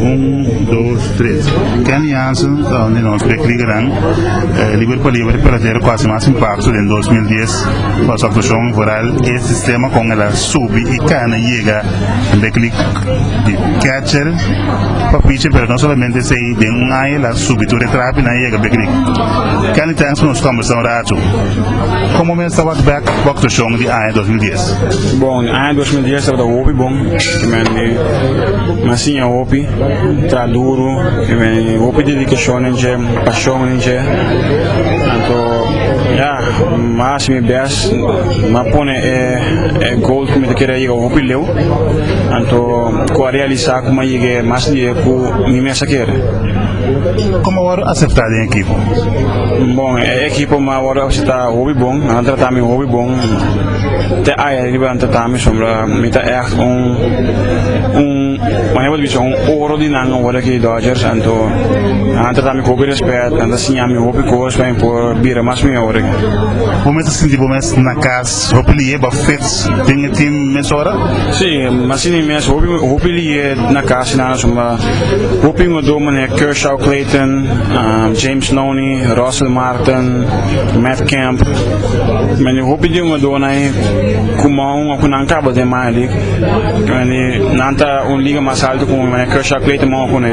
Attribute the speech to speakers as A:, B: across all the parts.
A: Un, dos, tres. Kenny Hansen ta un di nos bekligernan. Eh, liber pa liber pa tera ku hasi mas impakto den 2010 pa su aktuashon vooral e sistema kon el a subi i kana yega den beklik di catcher pa pitcher pero no solamente esei den un aña el a subi tur e trapinan yega beklik. Kenny, thanks pa nos kombersá un ratu. Komo mester wak bek bo aktuashon di aña 2010? Bon, e aña dos mil dies tabata hopi bon, primeramente nan siña hopi, tra duru, primeramente hopi dedicacion den dje, pasion den dje, tanto ya, ma hasi mi best, ma pone e, e goal cu mi ta kere yega hopi leu, tanto cu a realisa cu mi a yega mas leu cu mi mes a kere. Como a wòrdu aceptá den ekipo? Bon, e ekipo mi a wòrdu aceptá hopi bon, nan a tratami hopi bon. Te aye riba nan ta ta mi sombra mi ta ègt un un mane bo ta bisti un oro di nan awor ki Dodgers anto nan ta ta mi ku hopi rèspèt nan ta siña mi hopi kos pa mi por bira mas mi awor aki. Bo mes ta sinti bo mes na kas hopi lihé ba fets den e tim mesora? Sí mi a sinti mi mes hopi hopi lihé na kas nan asuma hopi hungadó manera Kershaw Clayton, James Loney, Russell Martin, Matt Kemp. Mani hopi di un adona e ku mou a ku nan kaba den maya di mani nan ta un liga mas alto ku mani Kershaw Clay ta mou a kune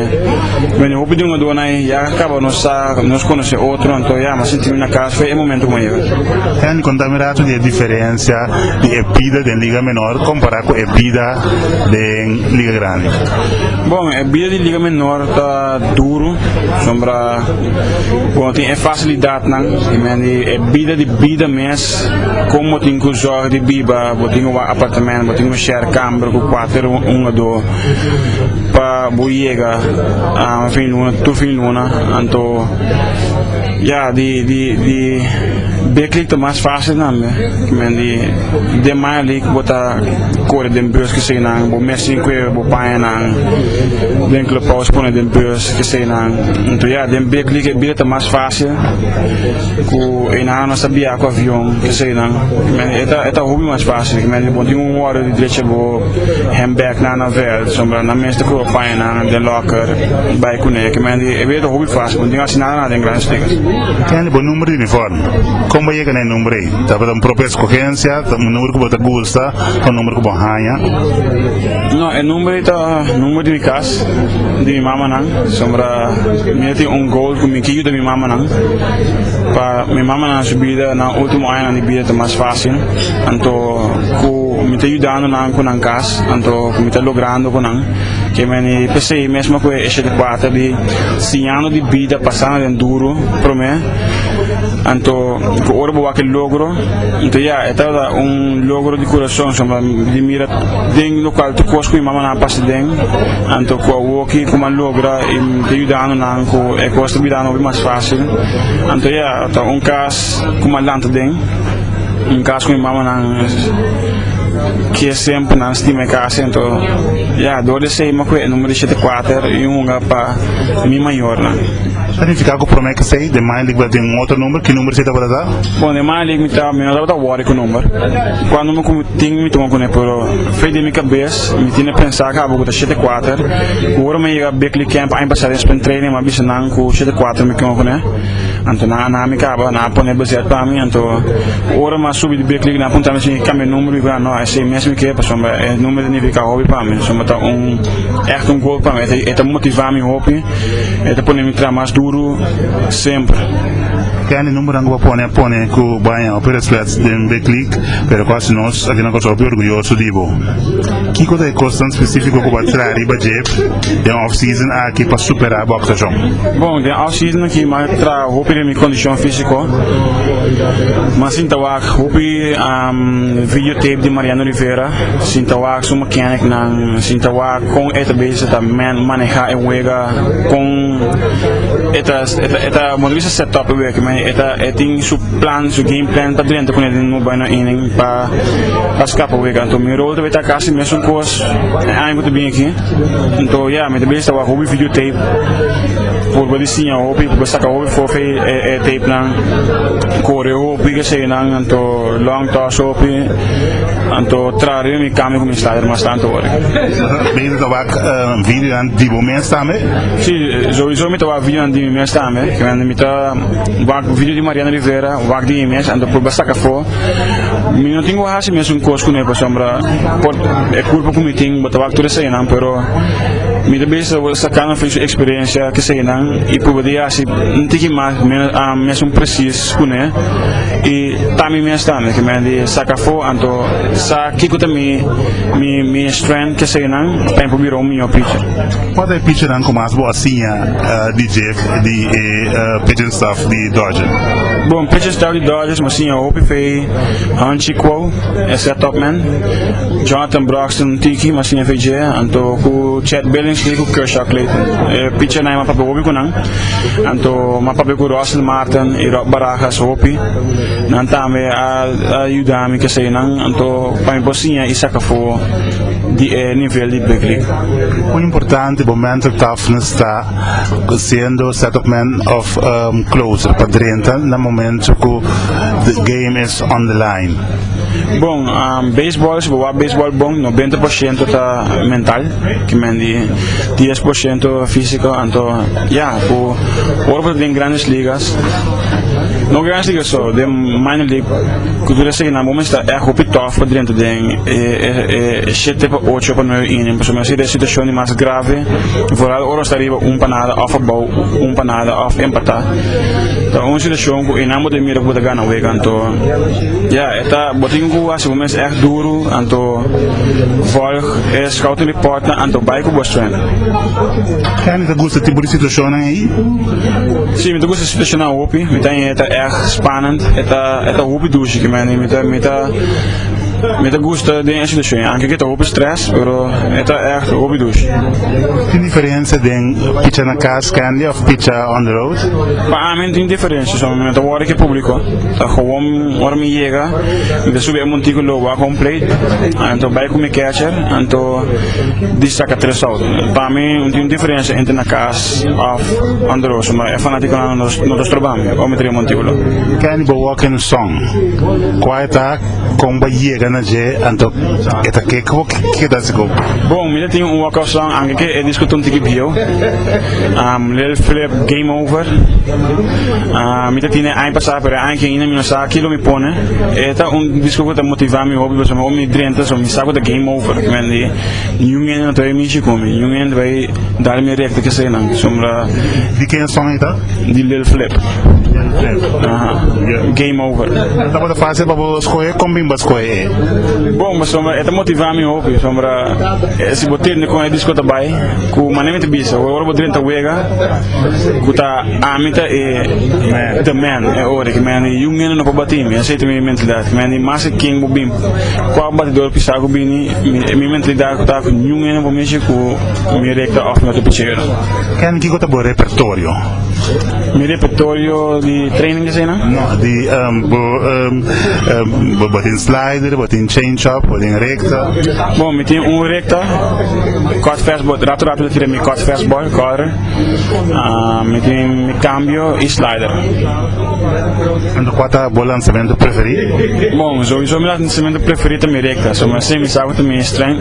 A: mani hopi di un adona e ya kaba nos sa nos konosé otro anto ya mi a sinti mi na kas fo e momento ku mi a yega. Andy konta mi ratu di e diferensia di e bida den liga menor kompará ku e bida den liga grandi. Bon e bida di liga menor ta. duru sombra cu no tin e facilidadnan y mendi e bida di bida mes con bo tin cu zorg di biba bo tin un apartamento bo tin un share camber cu cuater un a do pa bo yega fin luna tur fin luna anto ya di di beklik ta mas facil tambe cu mendi den maya li cu bo ta core den bus cu eseynan bo mes tin cu bo paña nan. Den clubhouse pone den beurs ki staynan nto ya den bek li ke bida ta mas facil cu eynan anos ta bia cu avion ki staynan e ta hopi mas facil kimen di bo tin un ora di drecha bo handbag nan na veld so nan mes ta proba paña nan den locker bay cune kimen di e bida ta hopi facil bo no tin asi nada nada den gran stickers. Kinnen di bo number di uniforme? Con bo yega na e number ey? Tabata un propia escogencia? Ta un number cu bo ta gusta? Ta un number cu bo haña? No, e number ei ta number di mi cas, di mi mamanan, sombra mi a tin un goal cu mi quier yuda mi mamanan, pa mi mamanan su bida nan ultimo añanan di bida ta mas facil, anto cu mi ta yudando nan cu nan cas, anto cu mi ta logrando cu nan, ke meni p'esey mesmo cu e eshel di cuater di siñando di bida pasando den duro prome, anto cu ora bo wak e logro, anto ya, e ta un logro di curason, sombra mi di mira. den local tur cos cu mi mama nan a pasa den anto cu awoki cu mi a logra y mi ta yudando nan cu e cos ta bira nobi mas facil anto ya ta un cas cu mi a lanta den un cas cu mi mama nan ke semper nan stima e cas anto ya dor di esey mi a coge e numero di shete kuater y un hunga pa mi mayornan. Ta significa cu prome ki esey den maya lic den un otro numero ki numero esey tabata ta? Bon den maya lic mi no tabata worry cu numero cuando mi Tin mi tuma kuné pero fei den mi kabes mi tin a pensa kaba ku ta shete kuater ku ora mi a yega Bickley Camp aña pasado den spring training mi a bisa nan ku shete kuater mi kima kuné anto nan a na mi kaba nan a pone bezet pa mi anto ora mi a subi di Bickley nan a punta mi si mi kambia numero mi kuné no esei mes mi ke pasobra e numero ta nifiká hopi pa mi pasobra ta un èkto un gol pa mi e ta motivá mi hopi e ta pone mi traha mas duru semper. Kendy numberonan ku bo a pone pone ku bo a haña hopi respet. Den Betlic, pero cu haci nos aki na Kòrsou hopi orguyoso di bo? Kico ta e cos tan specifico cu bo a traha riba djeb den off-season aki pa supera bo actuacion? Bon, den off-season aki mi a traha hopi den mi condicion fisico. Mi a sinta wak hopi videotape di Mariano Rivera, sinta wak su mechanic-nan, sinta wak con e ta bezig sa ta maneha e wega, con e ta, e ta, e ta, bon ta bisa set-up e wega aki, ma e ta, e tin su. Plan su game plan ta drenta cu nel no bay na inning pa pa scapa wega anto mi rol ta bay ta casi mesun cos e aña cu ta bini aki anto ya mi ta bini ta waha hopi video tape purba di siña hopi purba saca hopi fofe e tape nan core hopi keseyo nan anto long toss hopi anto traha riba mi cambio cu mi sta der mastan anto worde Beter ta wak videonan di bo mes tambe? Si, sowieso mi ta wak videonan di mi mes tambe, kimen mi ta. Wak ku video di Mariana Rivera, wak di mi mes, a ta purba saka afó. Mi no tin ku hasi mesun kos ku no e pasobra por e kurpa ku mi tin bo ta wak tur esayinan pero mi ta bisa bo saka nan afuer su eksperensia ku esayinan i purba di hasi un tiki mas mesun presis ku ne i ta mi mes tambe ku mi di saka afó anto sa kiko ta mi mi strength ku esayinan pa mi por bira un mió picher. Kua ta e pichernan ku mas bo a siña di dje? di e pitching staff di Dodgers? Bon, pitching staff di Dodgers mi siña hopi fe Hanchi Kuo, Esra Topman, Jonathan Broxton tiki mi siña fe dje, anto ku Chad Billingsley ku Kershaw Clayton. E pitchernan mi a papia hopi ku nan, anto mi a papia ku Russell Martin i Rod Barajas hopi. Nan tambe a a yuda mi ke seinan, anto pa mi por siña i saka for di e nivel di Big League. Ku importante bo mental toughness ta? siendo settlement of close pa drenta na momento cu the game is on the line. Bon, baseball, si bo wak baseball bon, no bente por ciento ta mental, kimen di dies por ciento fisico, anto ya, cu ora bo ta den Grandes Ligas, no Grandes Ligas so, den Minor League, cu tur esaki nan, bo mester ta echt hopi tough pa drenta den e shete pa ocho o pa nueve inning, pasobra mi a hasi den situacion di mas grave, Ta ora nos ta riba un pa nada of abou un pa nada of empata ta un situacion cu enamber ta mira cu bo ta gana wega anto ya e ta bo tin cu haci bo mes echt duru anto volg e scouting reportnan anto bay cu bo strength. Kenny ta gusta tipo di situacionnan ey? Si mi ta gusta situacionnan hopi mi ta e ta echt spannend e ta e ta hopi dushi kimen mi ta mi ta mi ta gusta den e situacion anke cu e ta hopi stress. Pero e ta echt hopi dushi. Tin diferencia den picha na cas candy of picha on the road? Pa ami tin diferencia so mi ta worry cu e publico ta gewoon ora mi yega mi ta subi e montico lo wak home plate anto bay cu mi catcher anto di saca tres out pa mi no tin diferencia entre na cas of on the road so e fanaticonan no ta stroba mi ora mi ta riba montico lo. Candy bo work in song. Quiet tak. Kon bo a yega na dje, anto e ta ke ku bo keda sigur? Bon, mi ta tin un wòk opshon anke ke e diskutí un tiki bieu. Lel flip game over. Mi ta tine aña pasá pero e aña ke hinda mi no sa ki lo mi pone. E ta un diskutí ku ta motivá mi hopi pasobra mi drenta so mi sa ku ta game over. Mi bai niun hende no ta bai mishi ku mi, niun hende no ta bai Dal mi rek di kesenan sombra. Di ken song e ta? Di Lil Flip. Lil Flip. Aha. Yeah. Game Over. No tabata fácil pa bo skohe kon bimba skohe e? Bon, bo sombra e ta motivá mi hopi sombra eh, si bo tende kon e disko ta bai ku mané mi ta bisa e ora bo drenta wega ku ta ami ta e the man e ora ki mi andi yun nene no pa batí mi asei ta mi mentalidad ki mi andi mas e ken bo bim kua batidor pisá ku bini mi mi mentalidad ta ku ñun nene bo mishi ku Mi reka of no ta pichero. Ken kiko ta bo repertorio? Mi repertorio di training asina? No, di um, bo, um, um, bo, bo tin slider, bo tin change up, bo tin recta. Bon, mi tin un recta, cut fastball, rato rato tira mi cut fastball, corre. Uh, mi tin mi cambio y slider. En tu cuata bo lanzamiento preferido? Bon, sowieso mi lanzamiento preferido mi recta, so mi así mi sabe mi strength.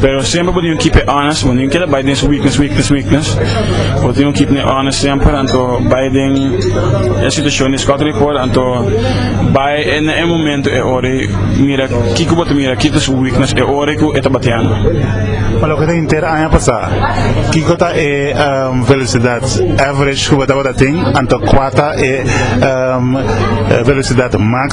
A: Pero siempre bo tin un kip e honest bo no tin keda bay den su weakness weakness weakness bo tin un kip ne honest siempre anto bay den e situacion di scouting report anto bay e na e momento e ora y mira kico bo ta mira kico ta su weakness e ora cu e ta batiando. Pa loke ta henter aña pasa kico ta e velocidad average cu bo tabata tin anto cua ta e velocidad max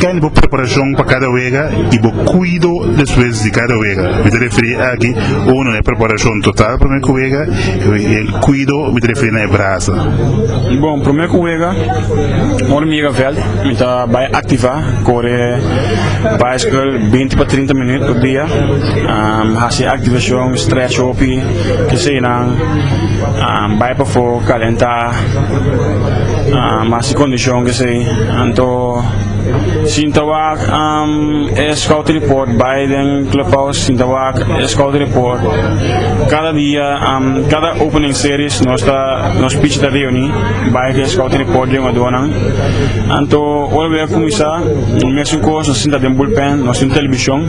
A: Kende bo preparashon pa kada wega i bo kuido despues di kada wega? Mi ta referí aki, uno na e preparashon total promé ku wega i e kuido mi ta referí na e brasa. Bon, promé ku wega ora mi yega vèlt mi ta bai aktivá, kore baisikal binti pa trinta minüt per dia, hasi aktivashon, strèch hopi, ke seinan, bai pafó, kalentá. Mas si kondishon kesei, anto sinta wak e scouting report bai den clubhouse, sinta wak e scouting report kada dia, kada opening series nos ta nos pichi ta reuni bai cu e scouting report den jugadornan, anto ora wea cuminsa mesun cos nos sinta den bullpen, nos tin television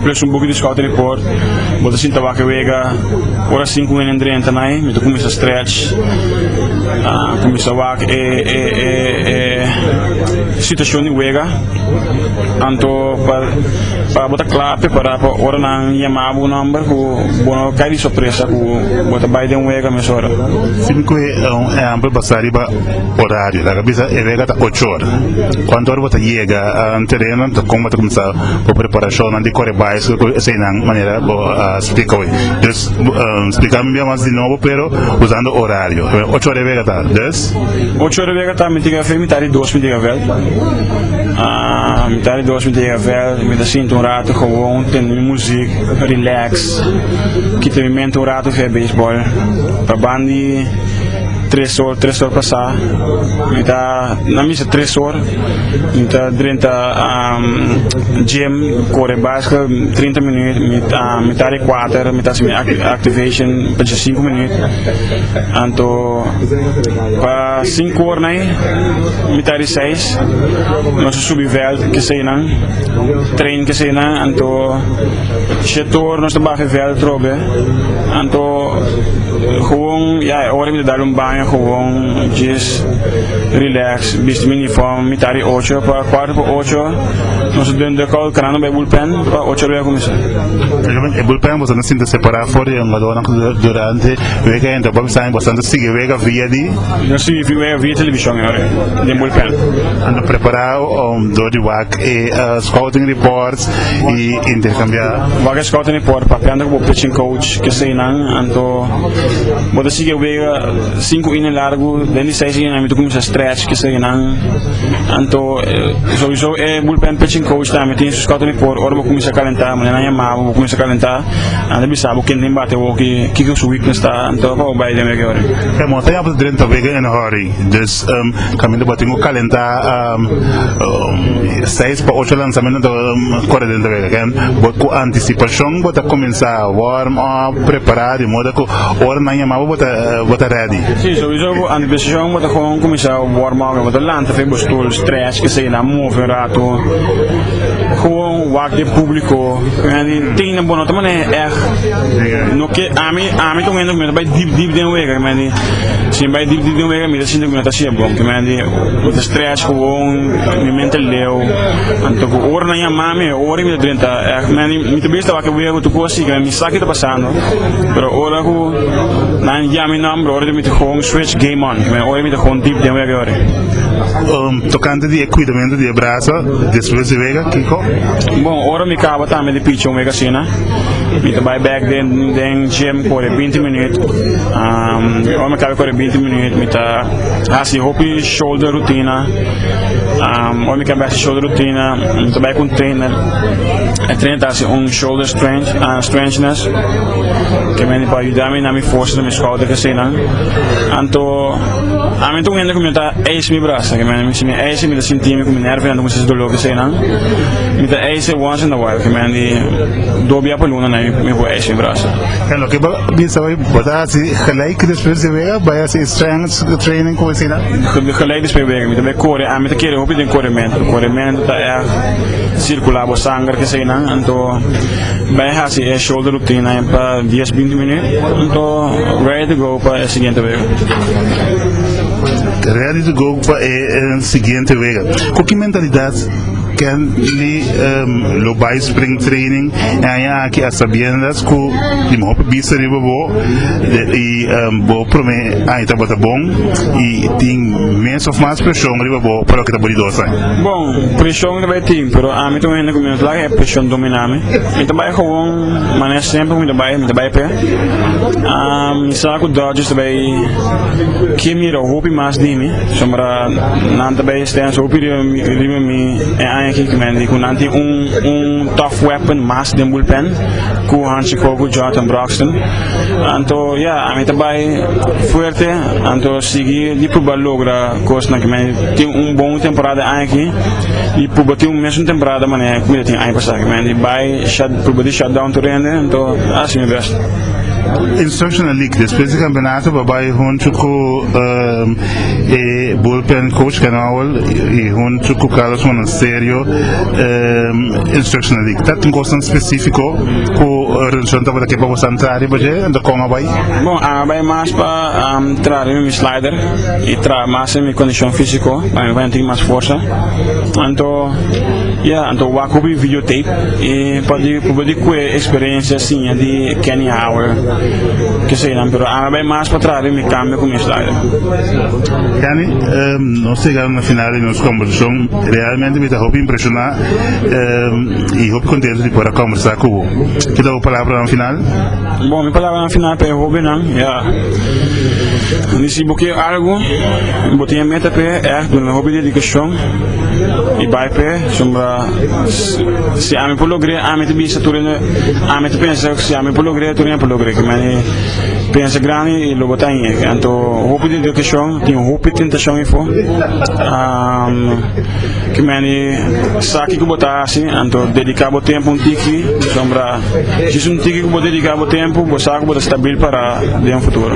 A: plus un buki di scouting report bo ta sinta wak e wega. Ora a sinku hende drenta na e mi ta kuminsá stretch kuminsá wak e situashon di wega anto pa bo ta kla prepará pa ora nan yama bo nòmber ku bo no kai di sorpresa ku bo ta bai den wega mes ora. Sin kue un ehèmpel basá riba orario laga bisa e wega ta ocho ora kuantu ora bo ta yega na tereno kon bo ta kuminsá bo preparashonnan di kore bai esei nan manera bo a. Splica hoy. Dus splica mi bia mas di nobo pero usando horario. Ocho ora di wega ta dus? Ocho ora di wega ta mi ta yega veld mitad di dos mi ta yega veld. Mitad di dos mi ta yega veld mi ta sinta un rato gewoon tende mi muzik relax kita mi mente un rato fe beisbòl pa ban di tres or tres or pasá mi ta na misa tres or mi ta drenta gym kore bas. Trinta minuut mi ta di kuater mi ta hasi mi activation pa dje sinku minuut anto pa sinku ora na mi ta di seis nos a subi veld keseynan train keseynan anto shete ora nos ta baha veld otro be anto gewoon ya e ora mi ta dal un baño gewoon djes relax bisti mi uniform mi ta di ocho pa kuater pa ocho Nos a duna duckout canando bay bullpen pa ocho rueda cuminsa. Praticamente e bullpen boso no sinta separa for di e jugadornan durante wega henter por bisa boso anto sigui wega via di Nos sigui wega via television ahora den bullpen. anto prepara um, door di wak e uh, scouting reports y intercambia. Wak e scouting report papia anto cu bo pitching coach keseynan anto bo ta sigui wega cinco inning largo den di seis inning nan mi ta cuminsa stretch keseynan anto Souiso e bulpen pitching coach tambe tin su scouting report ora bo cuminsa calenta manera nan yama bo bo cuminsa calenta nan ta bisa bo kende tin bate bo kiko su weakness ta anto pa bo bay den wega yorin. E mos ta yama ta drenta wega en hurry dus caminda bo tin cu calenta seis pa ocho lanzamentonan ta core drenta wega ken bo cu anticipacion bo ta cuminsa warm up prepara di modo cu ora nan yama bo bo ta ready. P'esei antes decision bo ta con cuminsa work mor bo ta lanta fin bo stoel stress que sea na move un rato gewoon wak den publico tin nan bo no ta mane echt no quier ami ami ta un hende cu mi no ta bay deep deep den wega kimendi si mi bay deep deep den wega mi ta sinti cu mi no ta haci e bon kimendi mi ta stress gewoon mi mente leu anto cu ora nan yama mi e ora mi ta drenta echt kimendi mi ta bay staba ki wega cu tur cosa asi kimendi mi sa ki ta pasando pero ora cu Nan yama mi nomber ora di mi ta juga un switch game on, me oye mi ta juga un deep den wega yoring. Tokante di e cuidamento di e brasa despues di wega kico? Bon, ora mi caba tambe di pichi un wega asina, mi ta bay back den den gym core binti minuut. Ora mi caba di core binti minuut mi ta haci hopi shoulder rutina. Ora mi caba di haci shoulder rutina mi ta bay cu un trainer, e trainer ta haci un shoulder strength. Strangeness ke mende por ayuda mi na mi forsa na mi skouder gezinan anto ami ta un hende ku mi ta eis mi brasa ke mende si mi eise mi ta sinti mi ku mi nervio anto mi sinti dolo gezinan mi ta eise once in a while ke mende do bia per luna na mi por eis mi brasa. En loke bo bisa hoy bo ta hasi gelijk despues di wega bai hasi e strength training ku asina? Gelijk despues wega mi ta bai kore ami ta kere hopi den korementu korementu ta èg sirkula bo sanger gezinan anto Bai hasi e shoulder rutina en pa dies binti minuut anto ready to go pa e siguiente wega. Ready to go pa e siguiente wega. Cu ki mentalidad Kenly lo bai spring training e aña aki a sabiendas cu di mejor pa bista riba bo y bo prome aña tabata bon y tin mes of mas presion riba bo pa loke ta bo di dos aña? Bon, presion ta bai tin pero ami ta un hende cu mi a flak. E preshon dominá mi. Mi ta bai gewoon manera semper mi ta bai, mi ta bai p'e. Mi sa ku Dodgers ta bai ke mira hopi mas di mi, pasobra nan ta bai stensa hopi riba mi e aña aki, mende ku nan tin un un tough weapon mas den bulpen ku Hansi Cole ku Jonathan Broxton. Anto ya, ami ta bai fuerte, anto sigui di pruba logra kosnan, mende tin un bon temporada e aña aki. y pruba tin un mes un temporada manera cu mi ta tin aña pasá cu mi a yandi bay pruba di shut down tur hende anto a haci mi best. Instructional League despues di campeonato pa bay hunto cu e bullpen coach Ken Howell y hunto cu Carlos Monasterio Instructional League ta tin cosnan specifico cu Revolucion tabata ke pa boso a entra riba dje anto con a bay? Bon a bay mas pa Traha riba mi slider y traha mas den mi condicion fisico pa mi baña tin mas forsa anto ya anto wak hopi video tape y pa di proba di cue experiencia siña di Kenny Howard kesenan pero ami a bay mas pa traha riba mi cambio cu mi slider. Kenny, nos ta yega na final di nos conversacion, realmente mi ta hopi impresiona y hopi contento di por a conversa cu bo. Kita bo palabranan final? Bon, mi palabranan final pa e hóbennan ya, di si bo kier algu, bo tin e meta p'e, èf, duna un hopi dedikashon i bai p'e, sombra si ami por logr'é, ami ta bisa tur hende, ami ta pensa si ami por logr'é tur hende por logr'é, ki mane pensa grandi i lo bo ta hende, anto hopi dedikashon, tin hopi tentashon efo, ki mane sa kiko bo ta hasi, anto dediká bo tempu un tiki, sombra. Si es un tiki ku bo dediká bo tempu, bo sa ku bo ta stabil pará den futuro.